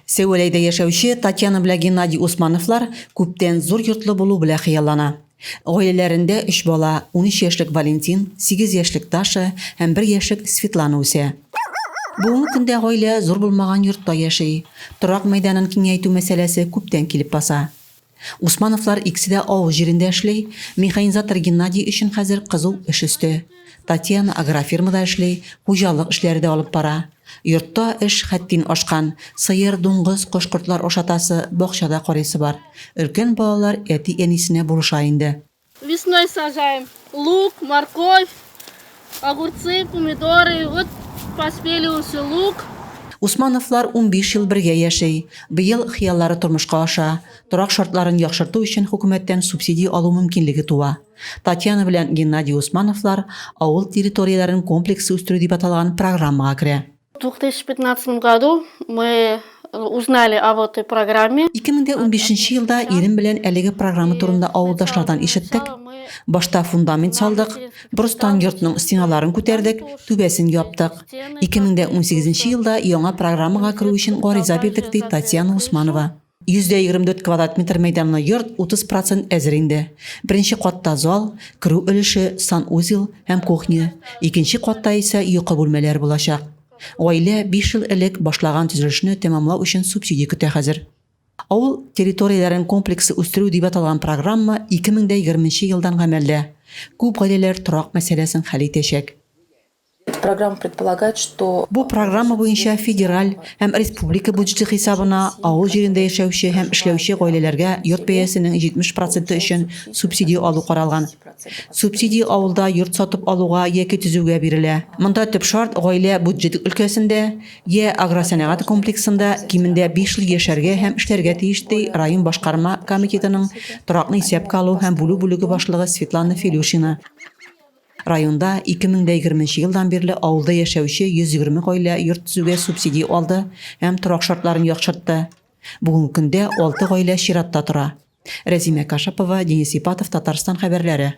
Сәүәләйдә яшәүче Татьяна белән Геннадий Усмановлар күптән зур йортлы булу белән хыяллана. Гаиләләрендә өч бала, унөч яшьлек Валентин, сигез яшьлек Даша һәм бер яшьлек Светлана үсә. Бүгенге көндә гаилә зур булмаган йортта яши. Торак мәйданын киңәйтү мәсьәләсе күптән килеп баса. Усмановлар икесе дә авыл җирендә эшли, механизатор Геннадий өчен хәзер кызу эш өсте. Татьяна агрофирмада эшли, хуҗалык эшләре дә алып бара. Йортта эш хәттин ашкан, сыер, дуңгыз, кош-кортлар ашатасы, бакча да карыйсы бар. Өлкән балалар әти-әнисенә булыша инде. Весной сажаем лук, морковь, огурцы, помидоры. Вот поспели уже лук. Усмановлар унбиш ел бергә яши. Быел хыяллары тормышка аша. Торак шартларын яхшырту өчен хөкүмәттән субсидия алу мөмкинлеге туа. Татьяна белән Геннадий Усмановлар авыл территорияләрен комплекслы үстерү дип аталган программага керә. В 2015 году мы узнали о вот этой программе. 2015 елда ирем белән әлеге программа турында авылдашлардан ишеттек. Башта фундамент салдык, брустан йортның стеналарын күтәрдек, түбәсен яптык. 2018 елда яңа программага керү өчен гариза бирдек, ди Татьяна Усманова. 124 квадрат метр мәйданлы йорт 30 процент әзер инде. Беренче катта зал, керү өлеше, санузел һәм кухня, икенче катта исә йокы бүлмәләр булачак. Гаилә 5 ел элек башлаган төзелешне тәмамлау өчен субсидия көтә хәзер. Авыл территорияләрен комплекслы үстерү дип аталган программа 2020 елдан гамәлдә. Күп гаиләләр торак мәсьәләсен хәл итәчәк. Программа предполагает, что Бу программа буенча федераль һәм республика бюджеты хисабына авыл җирендә яшәүче һәм эшләүче гаиләләргә йорт бәясенең 70 проценты өчен субсидия алу каралган. Субсидия авылда йорт сатып алуга яки төзүгә бирелә. Монда төп шарт гаилә бюджет өлкәсендә я агросәнәгать комплексында кимендә 5 ел яшәргә һәм эшләргә тиеш, ди район башкарма комитетының торакны исәпкә алу һәм бүлү бүлеге башлыгы Светлана Филюшина. Районда 2020 елдан бирле авылда яшәүче 120 гаилә йорт төзүгә субсиди алды һәм торак шартларын яхшыртты. Бүгенге көндә 6 гаилә чиратта тора. Рәзимә Кашапова, Денис Ипатов, Татарстан хәбәрләре.